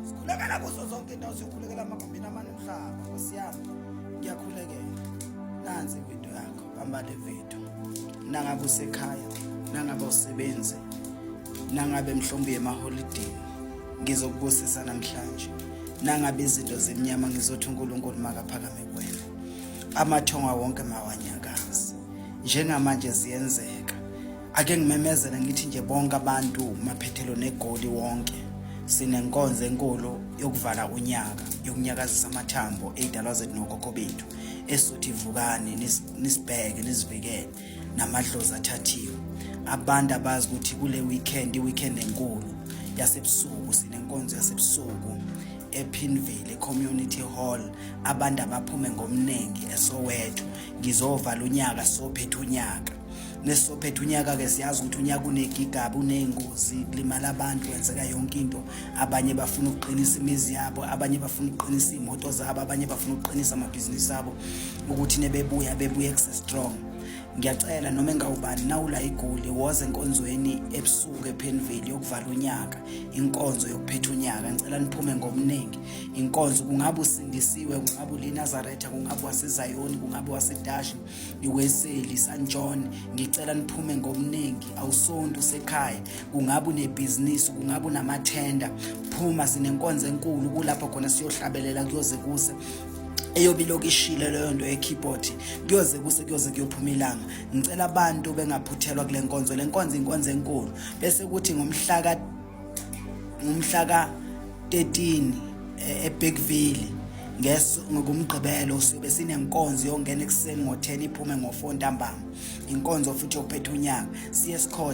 Sikhulekela kuzo zonke indawo sikhulekela amagumbini amane omhlaba Nkosi yami ngiyakhulekela nansi ividiyo yakho hamba le vidiyo nangabe usekhaya nangabe usebenze nangabe mhlawumbe yemaholidini ngizokubusisa namhlanje nangabe izinto zemnyama ngizothi uNkulunkulu makaphakame kuwena amathonga wonke mawanyakazi njengamanje ziyenzeka ake ngimemezele ngithi nje bonke abantu maphethelo negoli wonke sinenkonzo enkulu yokuvala unyaka yokunyakazisa amathambo ey'dalwa zethu nokhokho bethu esuthi vukani nisibheke nisivikele namadlozi athathiwe abantu abazi ukuthi kule weekend i-weekend enkulu yasebusuku sinenkonzo yasebusuku ephinville community hall abantu abaphume ngomningi esowethu ngizovala unyaka sophetha unyaka nesizophetha unyaka-ke siyazi ukuthi unyaka unegigaba uney'ngozi kulimala abantu kwenzeka yonke into abanye bafuna ukuqinisa imizi yabo abanye bafuna ukuqinisa iy'moto zabo abanye bafuna ukuqinisa amabhizinisi abo ukuthi nebebuya bebuye kusestrong ngiyacela noma engawubani nawula igoli woze enkonzweni ebusuku ephenveli yokuvala unyaka inkonzo yokuphetha unyaka ngicela niphume ngomningi inkonzo kungabe usindisiwe kungabe ulinazaretha kungabe wasezayoni kungabe wasedashi iweseli sanjon ngicela niphume ngomningi awusonto usekhaya kungabe unebhizinisi kungabe unamathenda phuma sinenkonzo enkulu kulapho khona siyohlabelela kuyoze kuse eyobe ilokhu ishile leyo nto ye-keyboard kuyoze kuse kuyoze kuyophuma ilanga ngicela abantu bengaphuthelwa kule nkonzo le nkonzo inkonzo enkulu bese kuthi ngomhlaka ngomhlaka 13 e-, ebigville ngeso ngokumgqibelo sibe sinenkonzo yongena ekuseni ngo-10 iphume ngo-4 ntambama inkonzo futhi yokuphetha unyaka siye sikhotha